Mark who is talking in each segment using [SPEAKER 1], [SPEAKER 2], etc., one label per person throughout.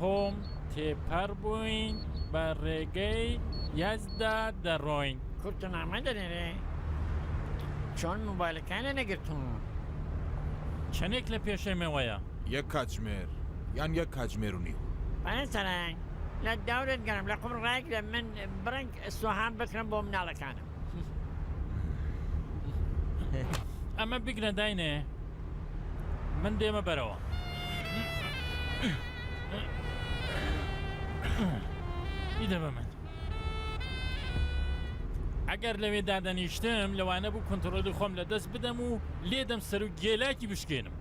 [SPEAKER 1] قوم تێپەڕ بووین بە ڕێگەی یەزدا دەڕۆین. کورت و نامە
[SPEAKER 2] دەنێرێ چۆن موبایلەکانێ نەگرتوون.
[SPEAKER 1] چەنێک لە پێشێمەوەیە؟ یەک کاتژمێر
[SPEAKER 3] یان یەک کاتژمێر و نیو. پەرە سەرەنگ
[SPEAKER 2] لە دەورت گەڕم لە قوم ڕایگرە من بڕێک سوهان بکڕم بۆ مناڵەکانم.
[SPEAKER 1] ئەمە بگرە داینێ من دێمە بەرەوە ئیدە بە من ئەگەر لەوێ دادەنیشتم لەوانە بوو کنتڕۆلی خۆم لە دەست بدەم و لێدەم سەر و گێلاکی بشکێنم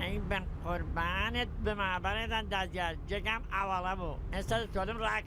[SPEAKER 1] ئەی بە
[SPEAKER 2] قوربانت بما بەڕێزان دادیار جێگام ئاواڵە بوو ئێستا دەتوانم ڕاک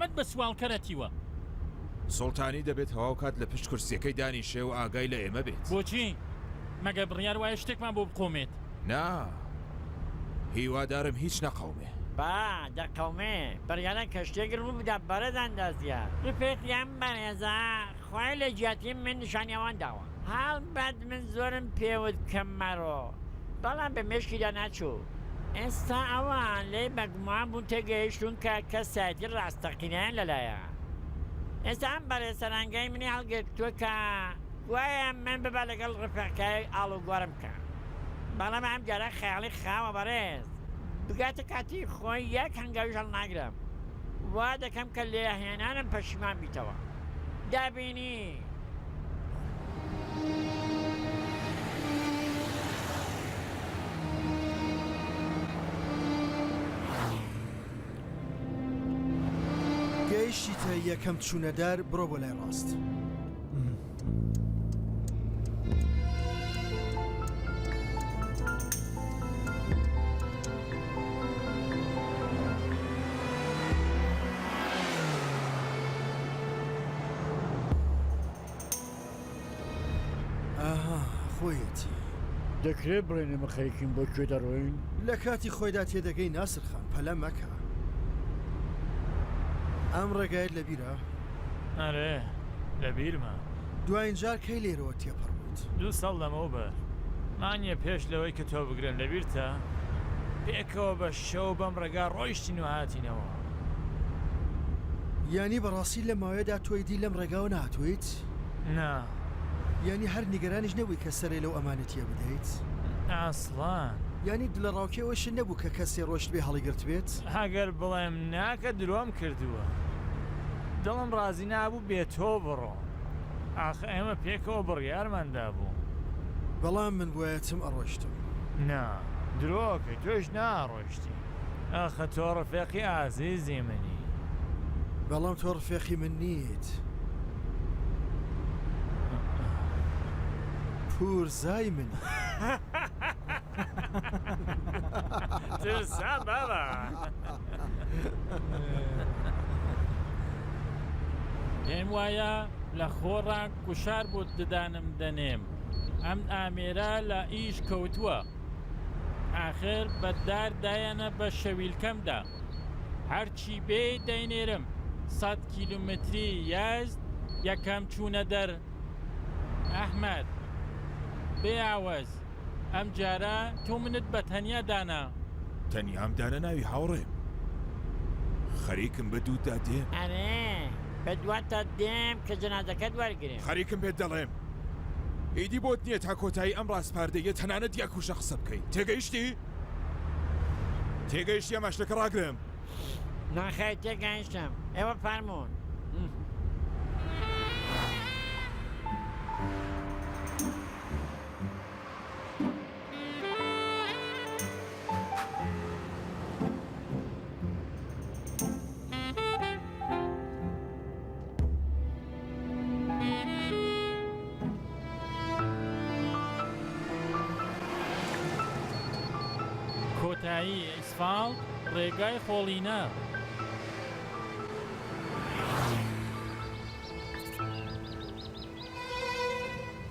[SPEAKER 1] مەد بە سواڵکەرە تیوە.
[SPEAKER 3] سوڵتانی دەبێت تەواو کات لە پشت کورسیەکەی دانیشێ و ئاگای لە ئێمە بێت. بۆچی؟
[SPEAKER 1] مەگەر بڕیار وایە شتێکمان بۆ بقۆمێت؟ نا،
[SPEAKER 3] هیوادارم هیچ نەقەومێ. با دەقەومێ،
[SPEAKER 2] بڕیارە کە شتێک ڕوو بدات بەڕێز ئەندازیار. ڕفێق یان بەڕێزە خوای لە جیاتی من نیشانیاوان داوە. هەڵبەت من زۆرم پێوت کە مەڕۆ، بەڵام بە مێشکیدا ناچوو. ئێستا ئەوان لێی بەگومان بوون تێگەیشتوون کە کەسایەتی ڕاستەقینەیان لەلایە. ئێستا ئەم بەڕێز سەرانگای منی هەڵگرتووە کە گوایە من ببە لەگەڵ ڕفێقکایەک ئاڵوگۆڕم بکە. بەڵام ئەمجارە خەیاڵی خاوە بەڕێز. بگاتە کاتی خۆی یەک هەنگاویش هەڵناگرم. وا دەکەم کە لێهێنانم پەشیمان بیتەوە. دابینی.
[SPEAKER 4] گەیشتیتە یەکەم چوونەدار بڕۆ بۆ لای ڕاست. ئاها خۆیەتی دەکرێت
[SPEAKER 2] بڵێن ئێمە خەریکین بۆ کوێ دەڕۆین لە کاتی خۆیدا
[SPEAKER 4] تێدەگەی ناسرخان پەلە مەکە ئەم ڕێگایت لە بیرە ئەرێ
[SPEAKER 1] لە بیرمە دوایین جار
[SPEAKER 4] کەی لێرەوە تێپەڕ بوویت دوو ساڵ لەمەو
[SPEAKER 1] بەر مانیە پێش لەوەی کە تۆ بگرن لە بیرتە پێکەوە بە شەو بەم ڕێگا ڕۆیشتین و هاتینەوە.
[SPEAKER 4] یانی بەڕاستی لەم ماوەیەدا تۆی دی لەم ڕێگاوە نەهاتوویت؟ نا.
[SPEAKER 1] یانی
[SPEAKER 4] هەر نیگەرانیش نەبووی کە سەرێ لەو ئەمانەتییە بدەیت؟ ئاسڵان.
[SPEAKER 1] یانی
[SPEAKER 4] دلەڕاوکێ ئەوەی شت نەبوو کە کەسێ ڕۆیشتبێ هەڵیگرتبێت؟ ئەگەر بڵێم
[SPEAKER 1] نا کە درۆم کردووە. دڵم ڕازی نابوو بێ تۆ بڕۆم. ئاخ ئێمە پێکەوە بڕیارمان دابوو. بەڵام
[SPEAKER 4] من بوایەتم ئەڕۆشتم. نا
[SPEAKER 1] درۆکەی تۆش ناڕۆشتی. ئاخە تۆ ڕفێقی ئازیزی منی. بەڵام
[SPEAKER 4] تۆ ڕفێقی من نیت. پورزای منی.
[SPEAKER 1] ترسام بابا. پێم وایە لە خۆڕا گوشار بۆ ددانم دەنێم ئەم ئامێرە لە ئیش کەوتووە ئاخر بە دار دایەنە بە شەویلکەمدا هەرچی بێ دەینێرم سەد کیلومتری یازد یەکەم چوونە دەر ئەحمەد بێ ئاوەز ئەم جارە تۆ منت بە تەنیا دانا. تەنیام
[SPEAKER 3] دانەناوی هاوڕێم. خەریکم بە دووتدا دێم. ئەرێ
[SPEAKER 2] بە دواتدا دێم کە جەنازەکەت وەرگرم. خەریکم بێت دەڵێم.
[SPEAKER 3] ئیدی بۆت نییە تا کۆتایی ئەم ڕاسپاردەییە تەنانەت یەکوشە قسە بکەی. تێگەیشتی؟ تێگەیشتی ئەما شتەکە ڕاگرم. نەخێر
[SPEAKER 2] تێگەیشتم. ئێوە فەرموون.
[SPEAKER 1] کۆتایی ئەسفاڵت ڕێگای خۆڵینە.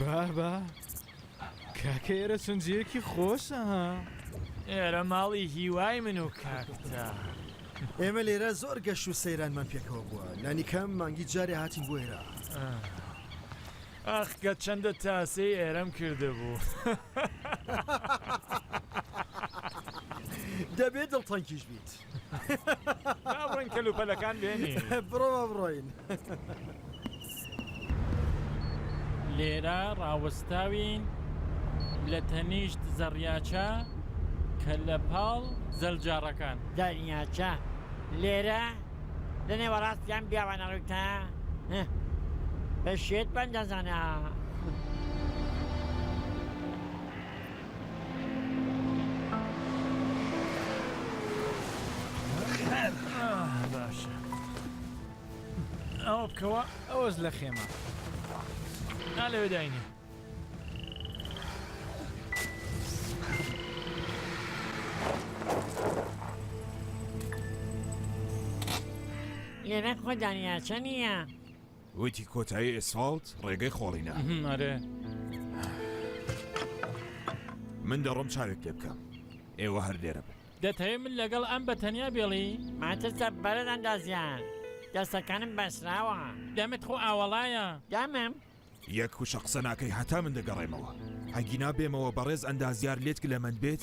[SPEAKER 5] بابە کاکە ئێرە سنجەیەکی خۆشە ها ئێرە
[SPEAKER 1] ماڵی هیوای من و کاکتە ئێمە
[SPEAKER 4] لێرە زۆر گەش و سەیرانمان پێکەوە بووە لانیکەم مانگی جارێ هاتین بۆ ئێرە
[SPEAKER 1] ئاخگە چەندە تاسەی ئێرەم کردبوو
[SPEAKER 4] دەبێت دڵتەنکیش بیت.
[SPEAKER 1] با بڕۆین کەلوپەلەکان بێنین بڕۆ با بڕۆین
[SPEAKER 6] لێرە ڕاوەستاوین لە تەنیشت زەڕیاچە کە لە پاڵ زەلجاڕەکان زەریاچە
[SPEAKER 2] لێرە لە نێوەڕاستیان بیاوانە ڕووتە بە شێت بەندەزانە
[SPEAKER 1] ئەوە بکەوە ئەوەز لە خێمە ئا لەوێ داینێ
[SPEAKER 2] لێرە خۆ دانیاچە نییە وتی
[SPEAKER 3] کۆتایی ئێسفاڵت ڕێگەی خۆڵینە ئەرێ من دەڕۆم چاوێک لێ بکەم ئێوە هەر لێرە بن دەتەوێت من لەگەڵ
[SPEAKER 6] ئەم بە تەنیا بێڵی ماترسە بەرەز
[SPEAKER 2] ئەندازیار دەستەکانم بەسراوە دەمت خۆ
[SPEAKER 6] ئاوەڵایە دەمم
[SPEAKER 2] یەک وشە
[SPEAKER 3] قسە ناکەی هەتا من دەگەڕێمەوە ئەگینا بێمەوە بەڕێز ئەندازیار لێت گلەمەند بێت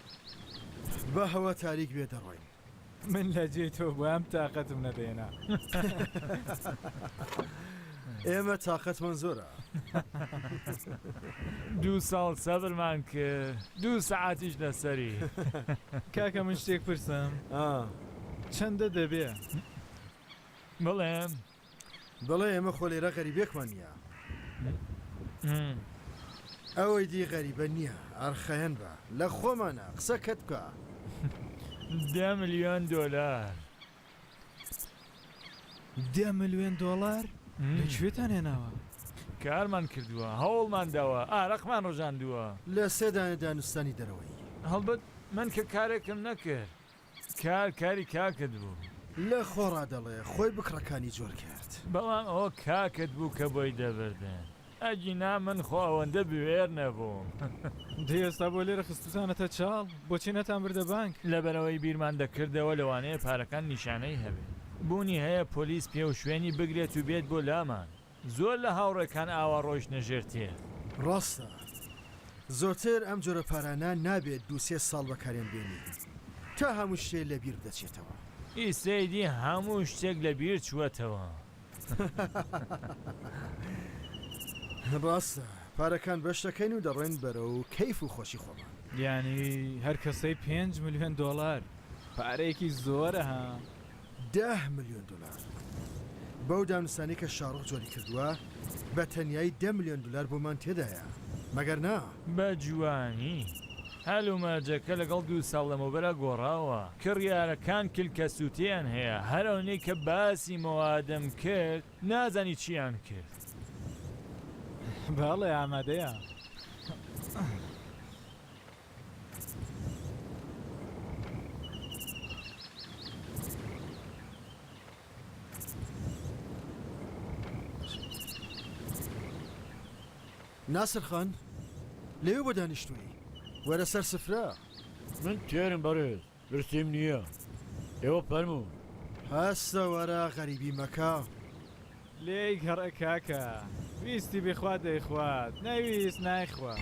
[SPEAKER 4] بە هەوا تاریک بێ دەڕۆین. من لە
[SPEAKER 5] جێی تۆ بوام تاقەتم نەدەێنا.
[SPEAKER 4] ئێمە تاقەتمان زۆرە.
[SPEAKER 1] دوو ساڵ سەبرمان کرد دوو سەعاتیش لەسەری. کاکە
[SPEAKER 5] من شتێک پرسم چەندە دەبێ؟
[SPEAKER 1] بڵێ
[SPEAKER 4] بڵێ ئێمە خۆ لێرە غەریبێکمان نییە. ئەوەی دی غەریبە نییە، ئەرخەێن بە، لە خۆمانە، قسە کەت بکە.
[SPEAKER 1] دە ملیۆن دۆلار.
[SPEAKER 5] دە ملیۆن دۆڵار؟ لە کوێتان هێناوە؟ کارمان
[SPEAKER 1] کردووە، هەوڵمان داوە، ئارەقمان ڕژاندووە. لە سێ دانە
[SPEAKER 4] دانوستانی دەرەوەیی. هەڵبەت من
[SPEAKER 1] کە کارێکم نەکرد. کار کاری کاکت بوو. لە خۆڕا
[SPEAKER 4] دەڵێ خۆی بکڕە کانی جۆر کرد. بەڵام ئەوە
[SPEAKER 1] کاکت بوو کە بۆی دەبردن ئەگینا من خۆ ئەوەندە بوێر نەبووم. دەی ئێستا
[SPEAKER 5] بۆ لێرە خستوتانەتە چاڵ بۆچی نەتان بردە بانک. لەبەرئەوەی بیرمان
[SPEAKER 1] دەکردەوە لەوانەیە پارەکان نیشانەی هەبێت بوونی هەیە پۆلیس پێ و شوێنی بگرێت و بێت بۆ لامان. زۆر لە هاوڕێکان ئاوا ڕۆیشتنە ژێر تێ. ڕاستە
[SPEAKER 4] زۆرتر ئەم جۆرە پارانە نابێت دوو سێ ساڵ بەکاریان بێنی تا هەموو شتێ لە بیر دەچێتەوە. ئیستەی دی
[SPEAKER 1] هەموو شتێک لە بیر چووەتەوە.
[SPEAKER 4] ڕاستە پارەکان بەش دەکەین و دەڕۆین بەرەو کەیف و خۆشی خۆمان. یانی هەر
[SPEAKER 5] کەسەی پێنج ملیۆن دۆڵار پارەیەکی زۆرە ها. دە
[SPEAKER 4] ملیۆن دۆلار بەو دانوستانەی کە شاڕۆخ جۆری کردووە، بە تەنیایی دە ملیۆن دۆلار بۆمان تێدایە، مەگەر نا؟ بە جوانی
[SPEAKER 1] هەلومەرجەکە لەگەڵ دوو ساڵ لەمەوبەرا گۆڕاوە. کڕیارەکان کلکەسووتەیان هەیە، هەر ئەونەی کە باسی موادم کرد، نازانی چییان کرد.
[SPEAKER 5] بەڵێ، ئامادەیە.
[SPEAKER 4] ناسر خان لەوێ بۆ دانیشتووی؟ وەرە سەر سفرە. من
[SPEAKER 2] تێرم بەڕێز. پرسیم نییە ئێوە فەرموون. هەستە
[SPEAKER 4] وەرە غەریبی مەکە. لێی
[SPEAKER 5] گەڕێ کاکە ویستی بیخوات دەیخوات نەیویست نایخوات.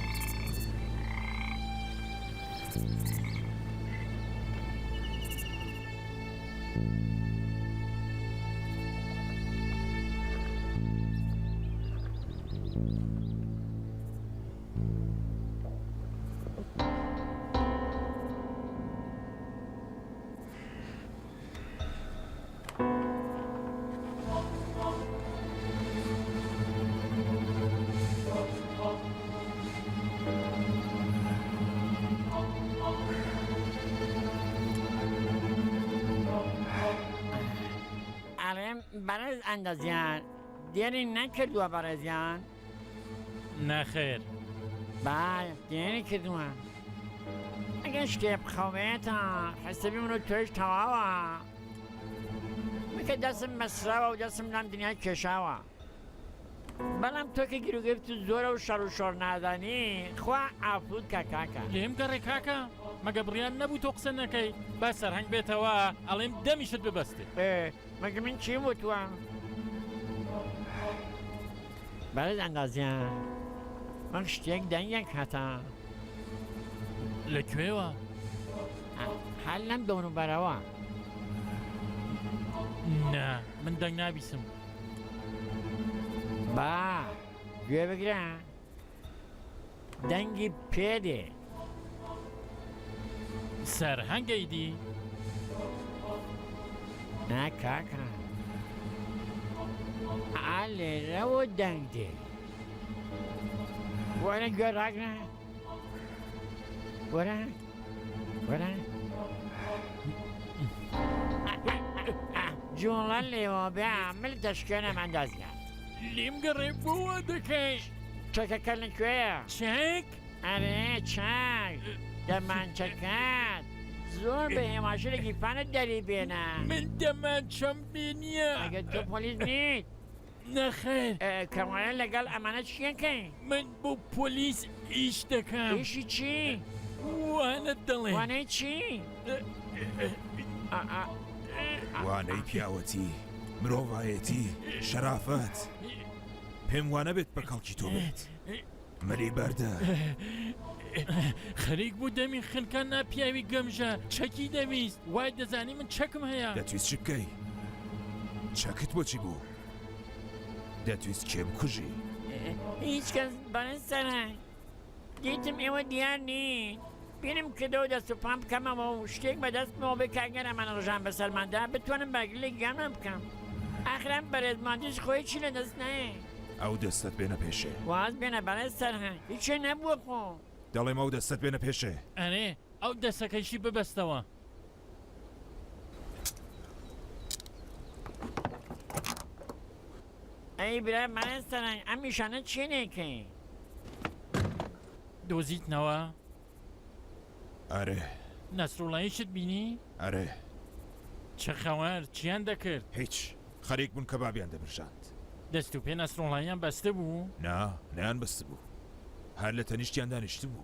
[SPEAKER 2] بەڕێز ئەندەزیار دێرین نەکردووە بەڕێزیان؟
[SPEAKER 6] نەخێر
[SPEAKER 2] بای دیاری کردووە ئەگەر شتێ بخەوێتە حسەبی منە توێش تەواوە کە دەسم مەسراوە و دەسم لەم دنیای کێشاوە بەڵام تۆکە گیرروگەفت و زۆرە و شەڕ و شۆڕ نادانی خوا ئافود کە کاکە لێم گەڕێ کاکە
[SPEAKER 6] مەگە بڕیان نەبوو تۆ قسە نەکەی با سەرهنگ بێتەوە ئەڵێم دەمیشت ببەستێ مەگە من
[SPEAKER 2] چیم وتوە؟ بەرێز ئەندازیار من شتێک دەنگێک هەتا لە
[SPEAKER 6] کوێوە؟
[SPEAKER 2] هەر لەم دەور بەرەوە
[SPEAKER 6] نا من دەنگ نابیسم
[SPEAKER 2] با گوێ بگرە دەنگی پێ دێ
[SPEAKER 6] سەرهەنگەی دی
[SPEAKER 2] نا کاکە ئا لێرەوە دەنگ دێ وەرە گوێ ڕاگرە وەرە وەرە جوڵە لێوە بێ عامل دەشکێنە مەندازگە لیم گەڕێ
[SPEAKER 6] بۆ وا دەکەی. چەکەکە لە
[SPEAKER 2] کوێیە؟ چەک؟
[SPEAKER 6] ئەرێ
[SPEAKER 2] چاک دەمانچەکان زۆر بە هێماشرە گیرفانت دەری بێنە من دەمانچەم
[SPEAKER 6] بێ نییە ئەگەر تۆ پۆلیس
[SPEAKER 2] نیت نەخێر
[SPEAKER 6] ئە، کەوایە
[SPEAKER 2] لەگەڵ ئەمانە چیەکەی؟ من بۆ
[SPEAKER 6] پۆلیس ئیش دەکەم. ئیشی چی؟
[SPEAKER 2] وانەت
[SPEAKER 6] دەڵێم. وانەی
[SPEAKER 2] چی؟
[SPEAKER 3] وانەی پیاوەتی، مرۆڤایەتی، شەرافەت. پێم وانە بێت بە کەڵکی تۆ بێت. مەلی بەردە.
[SPEAKER 6] خەریک بوو دەمی خنکە ناپیاوی گەمژە چەکی دەویست وای دەزانی من چەکم هەیە. دەتویست چ بکەی؟
[SPEAKER 3] چەکت بۆچی بوو؟ دەتویست کێ بکوژی؟ هیچ
[SPEAKER 2] کەس بەڕێز سەرهەنگ دیتم ئێوە دیار نین بیرم کردەوە دەست و پام بکەمەوە و شتێک بەدەستمەوە بێ کاگەر ئەمانە ڕژان بە سەرماندا بتوانم بەگلێک گیانمان بکەم ئاخرام بەرێزمانتیش خۆی چی لە دەست نایە ئەو دەستت
[SPEAKER 3] بێنە پێشێ واز بێنە بەڕێز
[SPEAKER 2] سەرهەنگ هیچێ نەبووە خۆ دەڵێم ئەو دەستت
[SPEAKER 3] بێنە پێشێ ئەرێ ئەو
[SPEAKER 6] دەستەکەشی ببەستەوە
[SPEAKER 2] ئەی برا مامۆستایان ئەم نیشانە چیە نێکەی
[SPEAKER 6] دۆزیتنەوە
[SPEAKER 3] ئەرێ
[SPEAKER 6] نەسرۆڵایشت بینی ئەرێ
[SPEAKER 3] چە
[SPEAKER 6] خەوار چیان دەکرد هیچ خەریک
[SPEAKER 3] بوون کە بابیان دەبرژاند دەست و پێ
[SPEAKER 6] نەسرۆڵایان بەستە بوو نا نیان بەست
[SPEAKER 3] بوو هەر لە تەنیشتیان دانیشت بوو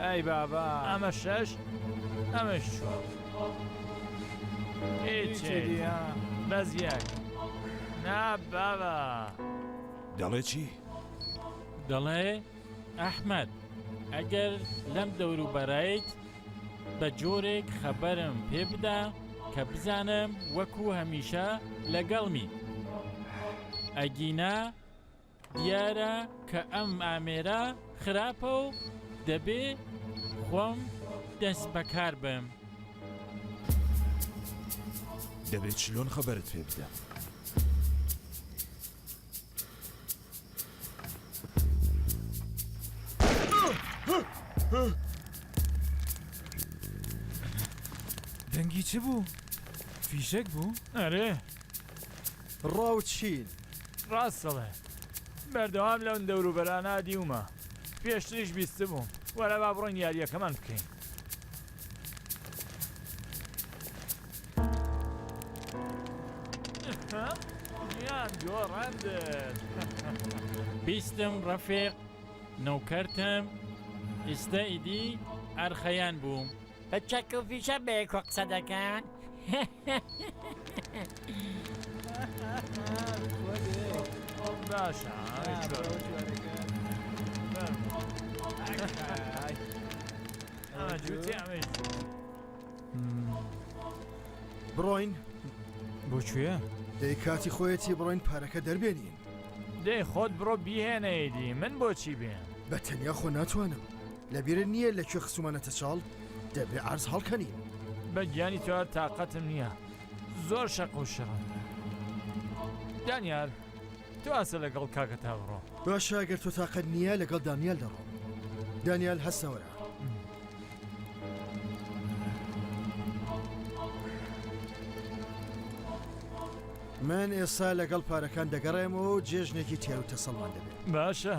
[SPEAKER 1] ئەی بابە
[SPEAKER 5] ئەمە شەش
[SPEAKER 1] ئەمەش چوار
[SPEAKER 5] بەس یەک
[SPEAKER 1] نا بابە
[SPEAKER 3] دەڵێ چی؟
[SPEAKER 6] دەڵێ ئەحمد ئەگەر لەم دەوروبەرایت بە جۆرێک خەبەرم پێ بدا کە بزانم وەکو هەمیشە لەگەڵمی ئەگینا دیارە کە ئەم ئامێرە خراپە و دەبێ خۆم دەست بەکار بم.
[SPEAKER 3] دەبێت چلۆن خەبەرت پێ بدەم.
[SPEAKER 5] دەنگی چ بوو؟ فیشەک بوو؟ ئەرێ
[SPEAKER 1] ڕاوچین.
[SPEAKER 4] ڕاست دەڵێ
[SPEAKER 1] بەردەوام لەون دەوروبەرانە دیومە پێشتریش بیستبووم وەرە با بڕۆین یاریەکەمان بکەین. گیان گۆڕەندت.
[SPEAKER 6] بیستم ڕەفیق نۆکەرتم ئیستە ئیدی ئەرخەیان بووم. بە چەک و
[SPEAKER 2] فیشە بەیەکۆ قسە دەکەن
[SPEAKER 1] باشە
[SPEAKER 4] بڕۆین
[SPEAKER 5] بۆکوێ؟ دەی کاتی
[SPEAKER 4] خۆیەتی بڕۆین پارەکە دەربێنین دەی خۆت
[SPEAKER 1] بڕۆ بیهێنەیدی من بۆچی بێن بە تەنیا خۆ
[SPEAKER 4] ناتوانم لەبیرت نییە لە کوێ خستومانەتە چاڵ؟ دەبێ عەرز هەڵکەنین. بە گیانی
[SPEAKER 1] تۆ هەر تاقەتم نییە. زۆر شەق و شڕن. دانیال، تۆ ئاسە لەگەڵ کاکەتا بڕۆ. باشە ئەگەر تۆ تاقەت
[SPEAKER 4] نییە لەگەڵ دانیال دەڕۆم. دانیال هەستەوەرە. من ئێستا لەگەڵ پارەکان دەگەڕێمەوە و جێژنێکی تێر و تەسەڵمان دەبێت. باشە.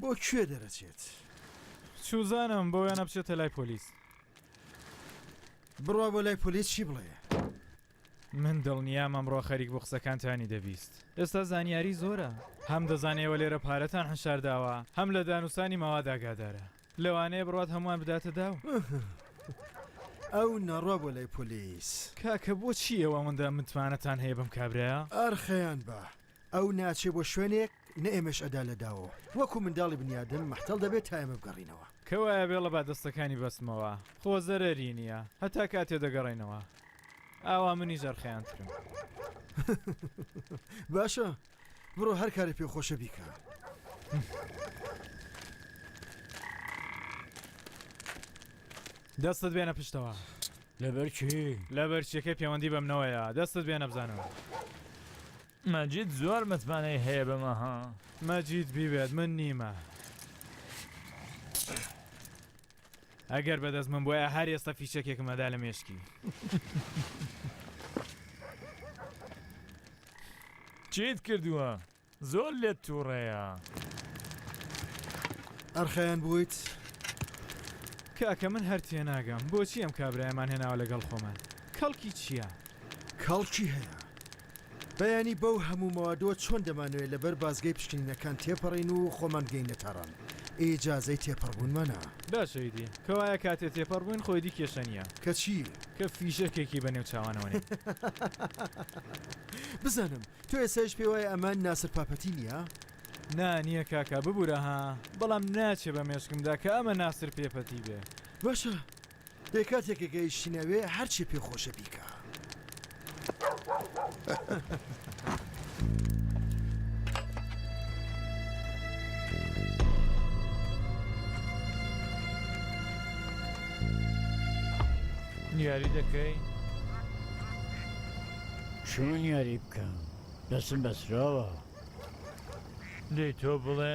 [SPEAKER 5] بۆ
[SPEAKER 4] کوێ دەرەچێت؟
[SPEAKER 5] چوزانم بۆ وێنە بچێتە لای پۆلیس.
[SPEAKER 4] بڕوا بۆ لای پۆلیس چی بڵێ؟
[SPEAKER 5] من دڵنیام ئەمڕۆ خەریک بۆ قسەکانتانی دەبیست. ئێستا زانیاری زۆرە هەم دەزانێەوە لێرە پارەتان حشارداوە هەم لە دانوسانی ماواداگادارە لەوانەیە بڕات هەمووان بداتە داو
[SPEAKER 4] ئەو نەڕوا بۆ لای پۆلیس کاکە بۆچی
[SPEAKER 5] ئەوە ئەوەندە متمانەتان هەیە بم کابراە ئارخەیان بە
[SPEAKER 4] ئەو ناچێ بۆ شوێنێک نە ئێمەش ئەدا لە داوەوە. وەکو منداڵی بنیادم مەحتەڵ دەبێ تا ئێمە بگەڕینەوە. کە وایە بێڵە با
[SPEAKER 5] دەستەکانی بەستمەوە. خۆ زەرەری نییە. هەتا کاتێ دەگەڕێینەوە. ئاوا منیش ئەرخەیانترم.
[SPEAKER 4] باشە. بڕۆ هەر کارێ پێ خۆشە بیکە.
[SPEAKER 5] دەستت بێنە پشتەوە. لەبەرچی
[SPEAKER 2] لەبەرچیەکەی پەیوەندی
[SPEAKER 5] بەمنەوەیە دەستت بێنە بزانەوە.
[SPEAKER 1] مەجید زۆر متمانەی هەیە بەمە ها. مەجید بیوێت
[SPEAKER 5] من نیمە. ئەگەر بەدەست من بوایە هەر ئێستا فیشەکێکم ئەدا لە مێشکی.
[SPEAKER 1] چیت کردووە؟ زۆر لێت تووڕەیە.
[SPEAKER 4] ئەرخەیان بوویت؟
[SPEAKER 5] کاکە من هەر تێناگەم بۆچی ئەم کابرایەمان هێناوە لەگەڵ خۆمان کەڵکی چییە؟ کەڵکی
[SPEAKER 4] هەیە بەیانی بەو هەموو مەوادەوە چۆن دەمانەوێت لەبەر بازگەی پشکنینەکان تێپەڕین و خۆمان بگەینە تاران ئیجازەی تێپەڕبوونمانە؟ باشە ئیدی
[SPEAKER 5] کەوایە کاتێ تێپەڕ بووین خۆ ئیدی کێشە نییە. کە چی؟ کە
[SPEAKER 4] فیشەکێکی
[SPEAKER 5] بە نێو چاوانەوە نێت.
[SPEAKER 4] بزانم، تۆ ئێستایش پێ وایە ئەمە ناسر پاپەتی نییە؟ نا نییە
[SPEAKER 5] کاکا ببورە ها، بەڵام ناچێ بە مێشکمدا کە ئەمە ناسر پێپەتی بێ. باشە
[SPEAKER 4] ئێ کاتێکە کە ئیشینەوێ هەرچی پێ خۆشە بیکا.
[SPEAKER 1] نیاری دەکەی؟
[SPEAKER 2] چۆن یاری بکەم دەسم بەسراوە.
[SPEAKER 1] دەی تۆ بڵێ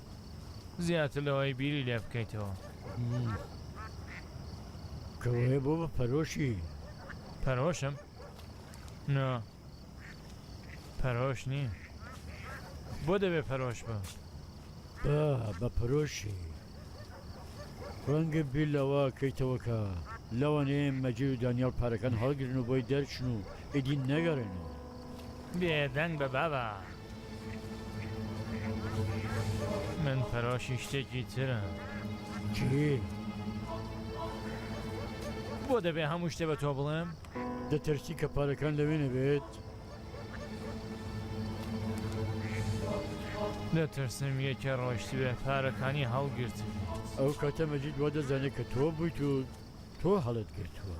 [SPEAKER 1] زیاتر لەوەی بیری لێ بکەیتەوە.
[SPEAKER 2] کەوایە بۆ بە پەرۆشی؟ پەرۆشم؟
[SPEAKER 1] نا پەرۆش نیم بۆ دەبێ پەرۆش بم؟ با
[SPEAKER 2] بە پەرۆشی ڕەنگە بیر لەوە کەیتەوەکە
[SPEAKER 7] لەوانەیە مەجید و دانیال پارەکان هەڵگرن و بۆی دەرچن و ئیدی نەگەڕێنەوە.
[SPEAKER 1] بێدەنگ بە بابە من پەرۆشی شتێکی ترە چی؟ بۆ دەبێ هەموو شتێ بە تۆ بڵێم؟ دەترسی کە
[SPEAKER 7] پارەکان لەوێ نەبێت؟
[SPEAKER 1] دەترسم یەکە ڕۆشتوێ پارەکانی هەڵگرت ئەو کاتە
[SPEAKER 7] مەجید وە دەزانێت کە تۆ بوویت و تۆ هەڵت گرتووە.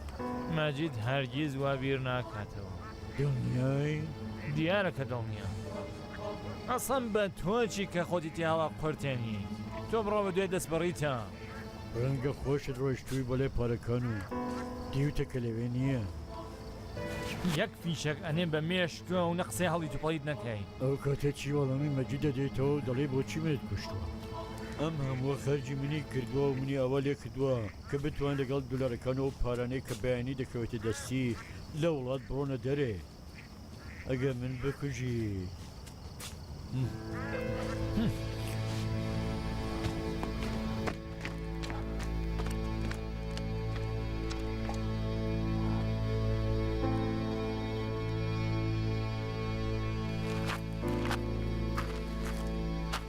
[SPEAKER 7] ماجید
[SPEAKER 1] هەرگیز وا بیر ناکاتەوە. دڵنیای؟
[SPEAKER 7] دیارە
[SPEAKER 1] کە دڵنیام. ئەسڵەن بە تۆ چی کە خۆتی تێهەڵە قورتێنیت؟ تۆ بڕۆ بە دوای دەستبەڕیتە. ڕەنگە
[SPEAKER 7] خۆشت ڕۆیشتووی بە لای پارەکان و دیوتە کە لەوێ نییە.
[SPEAKER 1] یەک فیشەک ئەنێم بە مێشکتەوە و نە قسەی هەڵیت و پەڵیت نەکەین. ئەو کاتە چی
[SPEAKER 7] وەڵامی مەجید دەدەیتەوە و دەڵێی بۆچی منت کوشتووە؟ ئەم هەمووە خەرجی منی کردووە و منی ئاوا لێ کردووە. کە بتوان لەگەڵ دولارەکان و پارانەی کە بەیانی دەکەوێتە دەستی لە وڵات بڕۆنە دەرێ ئەگەر من بکوژی.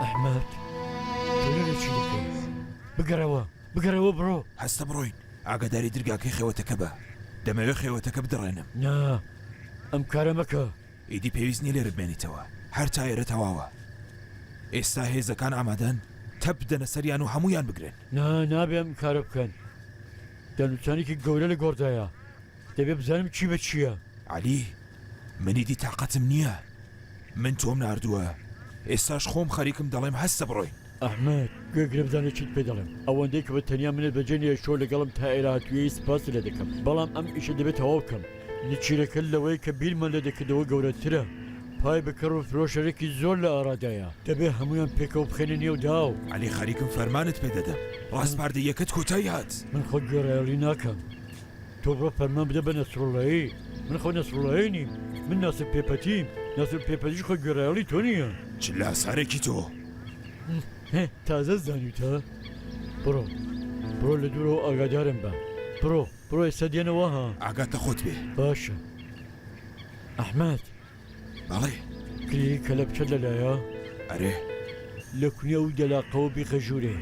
[SPEAKER 7] ئەحمەد تۆ لەوێ چی دەکەی؟ بگەڕەوە، بگەڕەوە بڕۆ. هەستە بڕۆین،
[SPEAKER 3] ئاگاداری درگاکەی خێوەتەکە بە. دەمەوێت خێوەتەکە بدڕێنم. نا،
[SPEAKER 7] ئەم کارە مەکە. ئیدی پێویست نیە
[SPEAKER 3] لێرە بمێنیتەوە هەر تا ئێرە تەواوە ئێستا هێزەکان ئامادەن تەپ بدەنە سەریان و هەموویان بگرن. نا نابێ ئەم کارە
[SPEAKER 7] بکەن دانوتانێکی گەورە لە گۆڕدایە دەبێ بزانم چی بە چیە. عەلی
[SPEAKER 3] من ئیدی تاقەتم نیە من تۆم ناردووە ئێستاش خۆم خەریکم دەڵێم هەستە بڕۆین. ئەحمەد، گوێ
[SPEAKER 7] گرە بزانە چیت پێ دەڵێم، ئەوەندەی کە بە تەنیا منت بەجێ نەهێشت شەو لەگەڵم تا ئێرە هاتوویی سپاست لێ دەکەم، بەڵام ئەم ئیشە دەبێ تەواو بکەم. نچیرەکە لەوەی کە بیرمان لێ دەکردەوە گەورەترە. پای بکەڕ و فرۆشەرێکی زۆر لە ئارادایە. دەبێ هەموویان پێکەوە بخەینە نێو داو. عەلی، خەریکم فەرمانت
[SPEAKER 3] پێ دەدەم. ڕاسپاردەییەکەت کۆتای هات. من خۆ گوێڕایەڵی
[SPEAKER 7] ناکەم. تۆ بڕۆ فەرمان بدە بە نەسروڵڵایی. من خۆ نەسروڵڵایی نیم. من ناسر پێپەتیم. ناسر پێپەتیش خۆی گوێڕایەڵی تۆ نییە. چ لاسارێکی
[SPEAKER 3] تۆ!
[SPEAKER 7] تازە زانیوتە؟ بڕۆ بڕۆ لە دوورەوە ئاگادارم بە بڕۆ بڕۆ ئێستا دێنەوە ها ئاگاتە خۆت بێ
[SPEAKER 3] باشە
[SPEAKER 7] ئەحمد
[SPEAKER 3] بەڵێ کلی کە
[SPEAKER 7] لە بچەت لەلایە ئەرێ
[SPEAKER 3] لە
[SPEAKER 7] کونێ و دەلاقەوە بیخە ژوورێ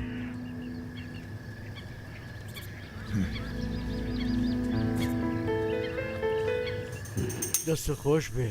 [SPEAKER 7] دەستە خۆش بێ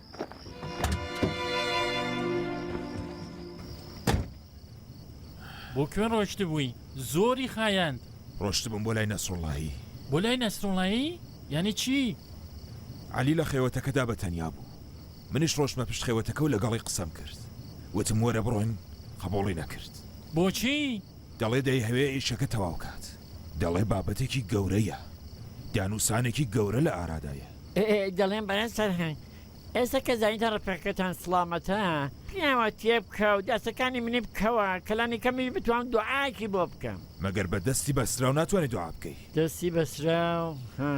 [SPEAKER 6] بۆ کوێ ڕۆشتبووی زۆری خایەند ڕۆشتبم بۆ لای
[SPEAKER 3] نەسرڵایی بۆ لای نەسرڵایی
[SPEAKER 6] یعنی چی؟ علی لە
[SPEAKER 3] خێوەتەکەدا بە تەنیا بوو منیش ڕۆشتمە پشت خێوەتەکە و لەگەڵی قسەم کرد وتم وەرە بڕۆین قبوڵی نەکرد بۆچی؟
[SPEAKER 6] دەڵێ دەیهەوێ
[SPEAKER 3] ئیشەکە تەواو کات. دەڵێ بابەتێکی گەورەیە. دانوسانێکی گەورە لە ئارادایە. دەڵێم بەرێز
[SPEAKER 2] سەرهەنگ، ئێستا کە زانیتە ڕەفیقەکەتان سڵامەتە، پیاوە تێ بکە و دەستەکانی منی بکەوە کە لانی کەمیش بتوام دوعایەکی بۆ بکەم. مەگەر بە دەستی
[SPEAKER 3] بەستراو ناتوانی دوعا بکەی؟ دەستی بەستراو،
[SPEAKER 2] ها.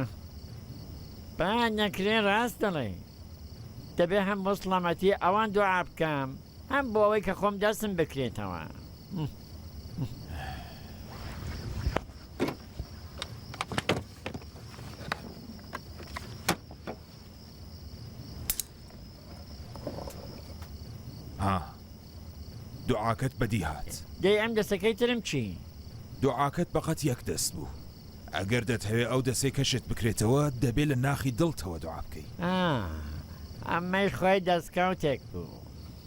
[SPEAKER 2] با نەکرێ ڕاست دەڵێی. دەبێ هەم بۆ سڵامەتی ئەوان دوعا بکەم، هەم بۆ ئەوەی کە خۆم دەستم بکرێتەوە.
[SPEAKER 3] دوعاکەت بەدی هات دەی ئەم دەستەکەی
[SPEAKER 2] ترم چی دوعاکەت
[SPEAKER 3] بەقەت یەک دەست بوو ئەگەر دەتەوێت ئەو دەسەی کەشت بکرێتەوە دەبێت لە ناخی دڵتەوە دوعا
[SPEAKER 2] بکەی ئەمەی
[SPEAKER 3] خۆی
[SPEAKER 2] دەستکەوتێک
[SPEAKER 3] بوو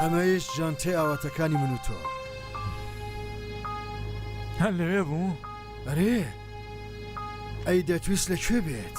[SPEAKER 4] ئەمەیش جانتەی ئاواتەکانی من و تۆ
[SPEAKER 1] هەر لەوێ بوو
[SPEAKER 4] ئەرێ ئەی دەتویست لەکوێ بێت؟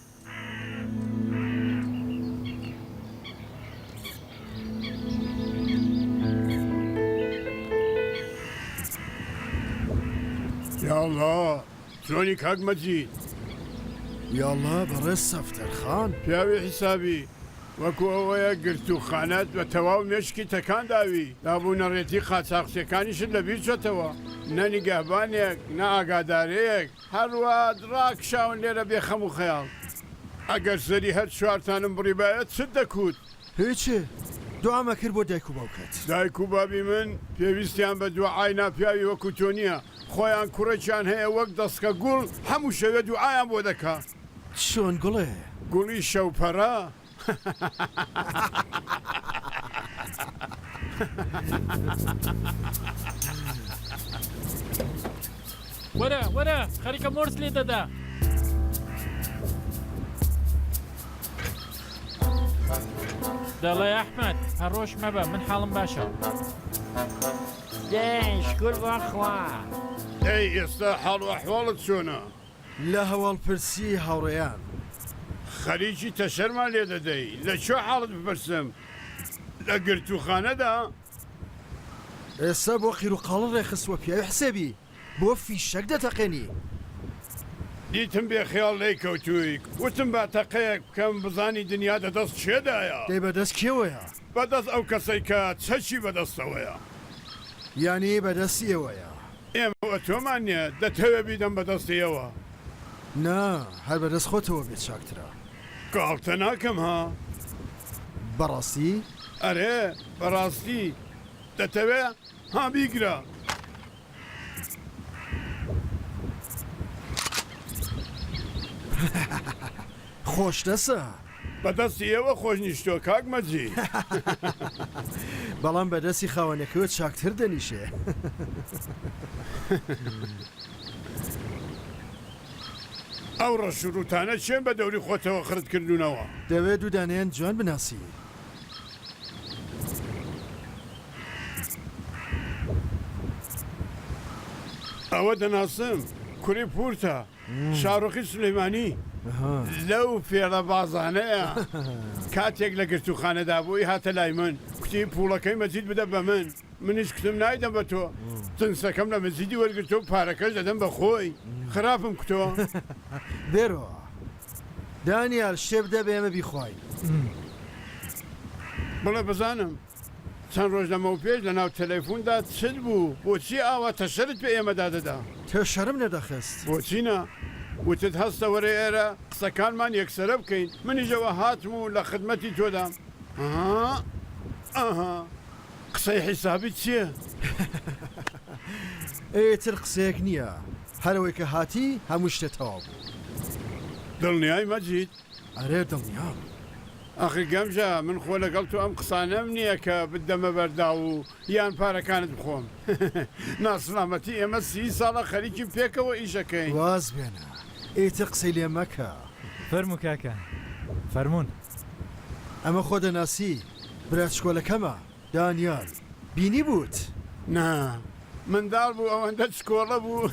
[SPEAKER 8] یاڵڵا چۆنی کاک مەجید
[SPEAKER 4] یاڵڵا بەڕێز سەفتەر خان پیاوی حیسابی
[SPEAKER 8] وەکو ئەوەیە گرت و خانەت بە تەواو مێشکی تەکان داوی دابوونەڕێتی قاچاخچیەکانیشت لە بیرچۆتەوە نە نیگەهبانێک نە ئاگادارەیەک هەروا ڕاکشاون لێرە بێ خەم و خەیاڵ. ئەگەر زەری هەر چوارتانم بڕیبایە چت دەکوت؟ هیچ،
[SPEAKER 4] دوعامە کرد بۆ دایک و باوکت. دایک و بابی من
[SPEAKER 8] پێویستیان بە دوعای ناپیاوی وەکو تۆ نیە، خۆیان کوڕێکیان هەیە وەک دەسکە گوڵ، هەموو شەوێ دوعایان بۆ دەکا. چۆن گوڵێ؟
[SPEAKER 4] گوڵی شەوپەرە.
[SPEAKER 6] وەرە وەرە خەریکە مۆرت لێ دەدا. دەڵێ ئەحمد هەڕۆژ مەبە من حاڵم باشە.
[SPEAKER 2] دێن شکر بەخوا. ئەی
[SPEAKER 8] ئێستا حاڵ و ئەحواڵت چۆنە؟ لە
[SPEAKER 4] هەواڵپرسی هاوڕێیان. خەریکی
[SPEAKER 8] تەشەرمان لێ دەدەی لە کوێ حاڵت بپرسم لە گرتووخانەدا.
[SPEAKER 4] ئێستا بۆ قیروقاڵت ڕێکخستووە پیاوی حسێبی بۆ فیشەک دەتەقێنی.
[SPEAKER 8] دیتم بێ خەیاڵ لێی کەوتووی وتم با تەقەیەک بکەم بزانی دنیا دە دەست کێدایە. دەی بەدەست کێوەیە؟
[SPEAKER 4] بە دەست ئەو کەسەی
[SPEAKER 8] کە چەکی بە دەستەوەیە. یانی
[SPEAKER 4] بە دەستی ئێوەیە. ئێمە بە تۆمان
[SPEAKER 8] نیە، دەتەوێ بیدەم بە دەستی ئێوە؟ نا،
[SPEAKER 4] هەر بە دەست خۆتەوە بێ چاکترە. گاڵتە
[SPEAKER 8] ناکەم ها؟ بە
[SPEAKER 4] ڕاستی؟ ئەرێ
[SPEAKER 8] بە ڕاستی. دەتەوێ؟ ها بیگرە.
[SPEAKER 4] خۆشتەسە. بەدەستی
[SPEAKER 8] ئێوە خۆش نیشتووە کاک مەجی.
[SPEAKER 4] بەڵام بەدەستی خاوەنەکەوە چاکتر دەنیشێ.
[SPEAKER 8] ئەو ڕەش و ڕووتانە کێن بە دەوری خۆتەوە خرت کردوونەوە؟ دەوێ دوو دانەیان
[SPEAKER 4] جوان بناسی.
[SPEAKER 8] ئەوە دەناسم کوری پورتە شاڕۆخی سلەیمانی لەو فێڵە بازانەیە کاتێک لە گرتووخانەدا بووی هاتە لای من کوتی پوڵەکەی مەجید بدە بە من. منیش کتم نایدەم بە تۆ تنسەکەم لە مەجیدی وەرگرتوە و پارەکەش دەدەم بە خۆی خراپم کتۆ. بێرۆ
[SPEAKER 4] دانیال شتێ بدە بە ئێمە بیخواین.
[SPEAKER 8] بڵێ بزانم چەند ڕۆژ لەمەو پێش لە ناو تەلەیفوندا چت بوو بۆچی ئاوا تەشەرت پێ ئێمەدا دەدا؟ تەشەرم
[SPEAKER 4] نەدەخست. بۆچی نا؟
[SPEAKER 8] وتت هەستە وەرە ئێرە قسەکانمان یەکسەرە بکەین منیش ئەوە هاتم و لە خدمەتی تۆدام. ئەها ئەها قسەی حیسابی چیە؟
[SPEAKER 4] ئێتر قسەیەک نیە هەرەوەی کە هاتی هەموو شتێ تەواو بوو.
[SPEAKER 8] دڵنیای مەجید؟ ئەرێ دڵنیام.
[SPEAKER 4] ئەخی
[SPEAKER 8] گەمژە من خۆ لەگەڵ تۆ ئەم قسانەم نیە کە بتدەمە بەرداو و یان پارەکانت بخۆم ناسلامەتی ئێمە سی ساڵە خەریکین پێکەوە ئیش ئەکەین. واز بێنە
[SPEAKER 4] ئیتر قسەی لێ مەکە. فەرموو کاکە
[SPEAKER 5] فەرموون.
[SPEAKER 4] ئەمە خۆ دەناسی؟ براچکۆلەکەمە دانیال بینی بوت. نا
[SPEAKER 8] منداڵ بوو ئەوەندە چکۆڵە بوو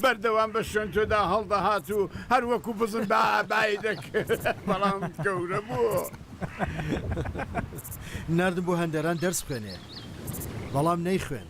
[SPEAKER 8] بەردەوام بە شوێن تۆدا هەڵدەهات و هەر وەکو بزن بە بای دەکرد بەڵام گەورە بوو
[SPEAKER 4] ناردم بۆ هەندەران دەرس بخوێنێ بەڵام نەیخوێند.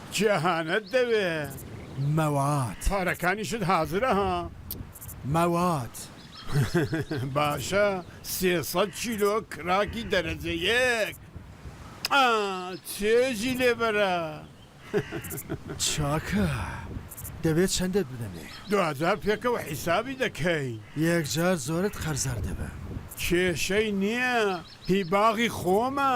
[SPEAKER 8] چی ئەهانەت دەوێ؟ مەواد.
[SPEAKER 4] پارەکانیشت
[SPEAKER 8] حازرە ها؟ مەواد. باشە سێ سەد کیلۆ کراکی دەرەجە یەک ئا چێژی لێ بەرە. چاکە
[SPEAKER 4] دەبێ چەندت بدەمێ؟ دواجار پێکەوە
[SPEAKER 8] حیسابی دەکەین. یەکجار زۆرت
[SPEAKER 4] قەرزار دەبم. کێشەی
[SPEAKER 8] نییە هی باغی خۆمە.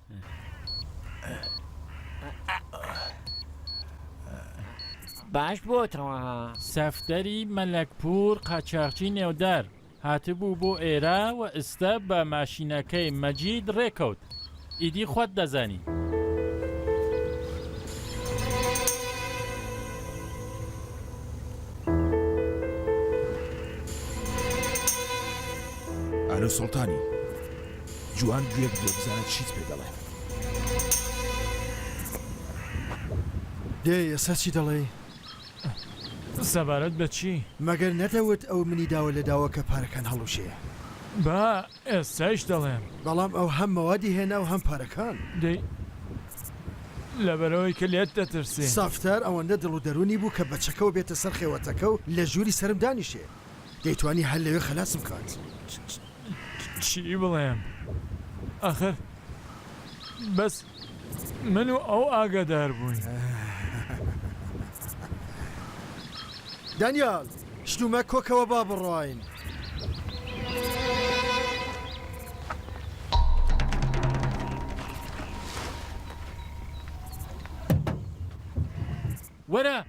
[SPEAKER 2] باش بۆتەوە ها. سەفتەری
[SPEAKER 6] مەلەکپوور قاچاغچی نێودار هاتبوو بۆ ئێرە و ئستە بە ماشینەکەی مەجید ڕێکەوت. ئیدی خوت دەزانی.
[SPEAKER 3] ئالۆ سوڵتانی، جوان گوێ بگرە بزانە چیت پێ دەڵێ.
[SPEAKER 4] دەی ئێستا چی دەڵێی؟ سەبارەت
[SPEAKER 1] بە چی؟ مەگەر نەتەوت
[SPEAKER 4] ئەو منی داوە لە داوە کە پارەکان هەڵوشێ؟ با
[SPEAKER 1] ئێستایش دەڵێم. بەڵام ئەو هەم
[SPEAKER 4] مەوادی هێنا و هەم پارەکان. دەی
[SPEAKER 1] لەبەرئەوەی کە لێت دەترسێ. سافتار ئەوەندە دڵ
[SPEAKER 4] و دەروونی بوو کە بە چەکەوە بێتە سەر خێوەتەکە و لە ژووری سەرم دانیشێ. دەیتوانی هەر لەوێ خەلاسم بکات.
[SPEAKER 1] چی بڵێم ئاخر بەس من و ئەو ئاگادار بووین.
[SPEAKER 4] دانیال، شتو مەک کۆکەوە با بڕۆین.
[SPEAKER 6] وەرە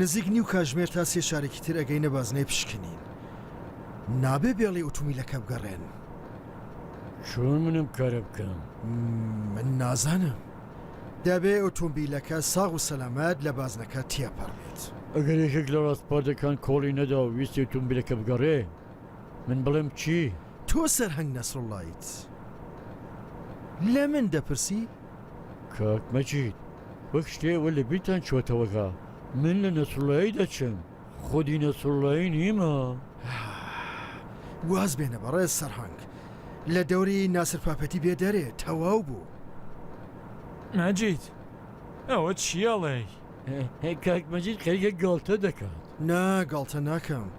[SPEAKER 4] نزیک نیو کاژمێر تا سێ شارێکی تر ئەگەینە بازنەی پشکنین نابێ بێڵی ئۆتومیلەکە بگەڕێن
[SPEAKER 7] چۆن منم کارە بکەم من
[SPEAKER 4] نازانم دەبێ ئۆتۆمبیلەکە ساغ و سەلامەت لە بازنەکە تێپەڕێت ئەگەر یەکێک لە
[SPEAKER 7] ڕاستپاردەکان کۆڵی نەدا و ویستی ئۆتۆمبیلەکە بگەڕێ من بڵێم چی؟ تۆ سەرهەنگ
[SPEAKER 4] نەسروڵڵایت لە من دەپرسی؟ کاک
[SPEAKER 7] مەجید، وەک شتێ ئەوە لە بیرتان چۆتەوە کە من لە نەسروڵڵایی دەچم، خودی نەسروڵڵایی نیمە.
[SPEAKER 4] واز بێنە بەڕێز سەرهەنگ، لە دەوری ناسر پاپەتی بێ دەرێ، تەواو بوو.
[SPEAKER 7] مەجید، ئەوە چی
[SPEAKER 1] ئەڵێی؟
[SPEAKER 7] کاک مەجید
[SPEAKER 1] خەریکە گاڵتە
[SPEAKER 7] دەکات.
[SPEAKER 4] نا گاڵتە ناکەم.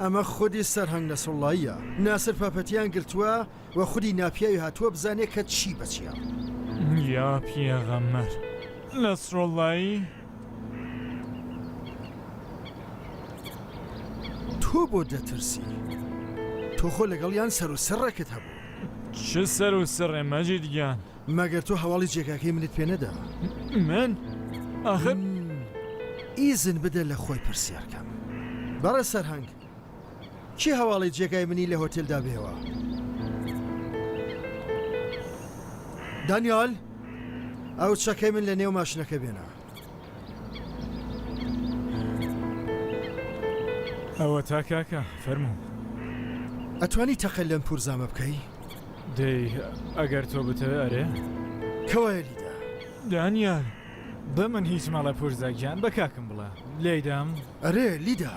[SPEAKER 5] ئەمە
[SPEAKER 4] خودی سەرهەنگ نەسروڵڵاییە ناسر پاپەتیان گرتووە و خودی ناپیاوی هاتووە بزانێ کە چی بە چیە. یا
[SPEAKER 1] پیغەمبەر نەسروڵڵایی.
[SPEAKER 4] تۆ بۆ دەترسی؟ تۆ خۆ لەگەڵیان سەرو سڕێکت هەبوو. چ سەرو
[SPEAKER 1] سڕێ مەجید گیان. مەگەر تۆ هەواڵی
[SPEAKER 4] جێگاکەی منت پێ نەدام؟ من؟
[SPEAKER 1] ئاخر
[SPEAKER 4] ئیزن بدە لە خۆی پرسیار کەم. بەڕێز سەرهەنگ، کێ هەواڵی جێگای منی لە هۆتێلدا بێوە؟ دانیال، ئەو چەکەی من لە نێو ماشنەکە بێنە.
[SPEAKER 5] ئەوەتا کاکە فەرموو.
[SPEAKER 4] ئەتوانی تەقە لەم پورزامە بکەی؟ دەی
[SPEAKER 5] ئەگەر تۆ بتەوێ ئەرێ. کەوایە
[SPEAKER 4] لیدا. دانیال
[SPEAKER 1] بە من
[SPEAKER 5] هیچ مەڵێ پورزا گیان بە کاکم بڵێ لێیدام. ئەرێ لیدا.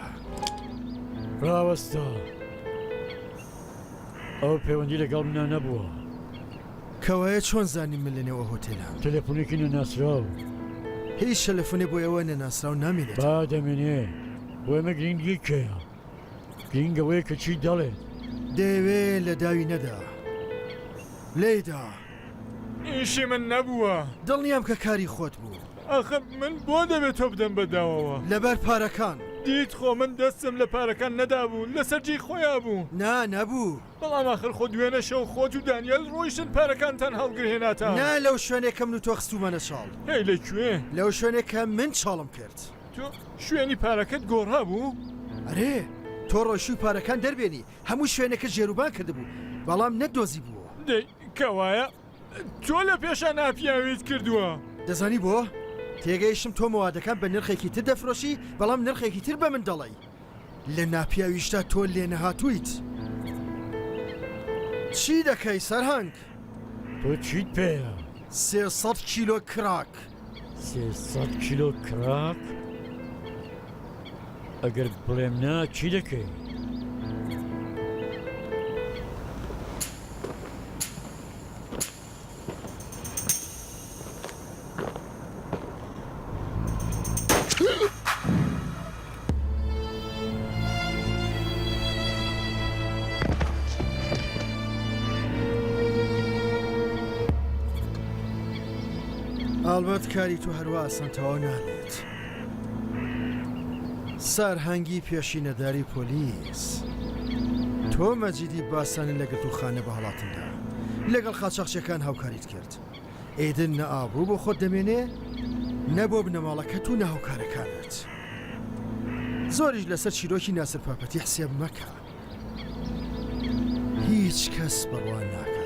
[SPEAKER 4] ڕاوەستە
[SPEAKER 7] ئەو پەیوەندی لەگەڵ منە نەبووە. کەوایە
[SPEAKER 4] چۆن زانی من لەنێو ئەو هۆتێلام؟ تەلەفونێکی نەناسراو.
[SPEAKER 7] هیچ
[SPEAKER 4] تەلەفونێ بۆ ئێوە نەناسراو نامێنێتەوە. با دەمێنێ،
[SPEAKER 7] بۆ ئێمە گرینگی کێیە؟ گرینگ ئەوەیە کە چی دەڵێت. دەیەوێ
[SPEAKER 4] لە داوی نەدا. لێی دا.
[SPEAKER 1] ئیشی من نەبووە. دڵنیام کە کاری
[SPEAKER 4] خۆت بوو. ئاخە من بۆ
[SPEAKER 1] دەبێ تۆ بدەم بە داوەوە؟ لەبەر پارەکان.
[SPEAKER 4] دیت خۆ من
[SPEAKER 1] دەستم لە پارەکان نەدابوو، لەسەر جێی خۆیا بوو. نا، نەبوو.
[SPEAKER 4] بەڵام ئاخر خۆ
[SPEAKER 1] دوێنە شەو خۆت و دانیێل ڕۆیشتن پارەکانتان هەڵگرهێناتە. نا لەو شوێنێ کە
[SPEAKER 4] من و تۆ خستوومانە چاڵ. هەی لە کوێ؟
[SPEAKER 1] لەو شوێنێ کە
[SPEAKER 4] من چاڵم کرد. تۆ شوێنی
[SPEAKER 1] پارەکەت گۆڕابوو؟ ئەرێ
[SPEAKER 4] تۆ ڕۆیشووی پارەکان دەربێنی، هەموو شوێنەکە جێروبان کردبوو، بەڵام نەتدۆزیبووەوە. دەی کەوایە
[SPEAKER 1] تۆ لە پێشان ئاپیاویت کردووە. دەزانی بۆ؟
[SPEAKER 4] تێگەیشتم تۆ مەوادەکان بە نرخێکی تر دەفرۆشی، بەڵام نرخێکی تر بە من دەڵێی. لە ناپیاویشتا تۆ لێنەهاتوویت. چی دەکەی سەرهەنگ؟ تۆ
[SPEAKER 7] چیت پێیە؟ سێ سەد
[SPEAKER 4] کیلۆ کراک. سێ
[SPEAKER 7] سەد کیلۆ کراک؟ ئەگەر بڵێم نا چی دەکەی؟
[SPEAKER 4] ئەڵبەت کاری تو هەروا ئاسان تەواو نابێت سارهەنگی پێشینەداری پۆلیس تۆ مەجیدی باسانی لە گرتوخانە بە هەڵاتن لەگەڵ قاچاخچیەکان هاوکاریت کرد ئیدن نە ئابڕوو بۆ خۆت دەمێنێ نە بۆ بنەماڵەکەت و نە هاوکارەکانت زۆریش لەسەر چیرۆکی ناسر پاپەتی حسێب مەکە هیچ کەس بڕوا ناکە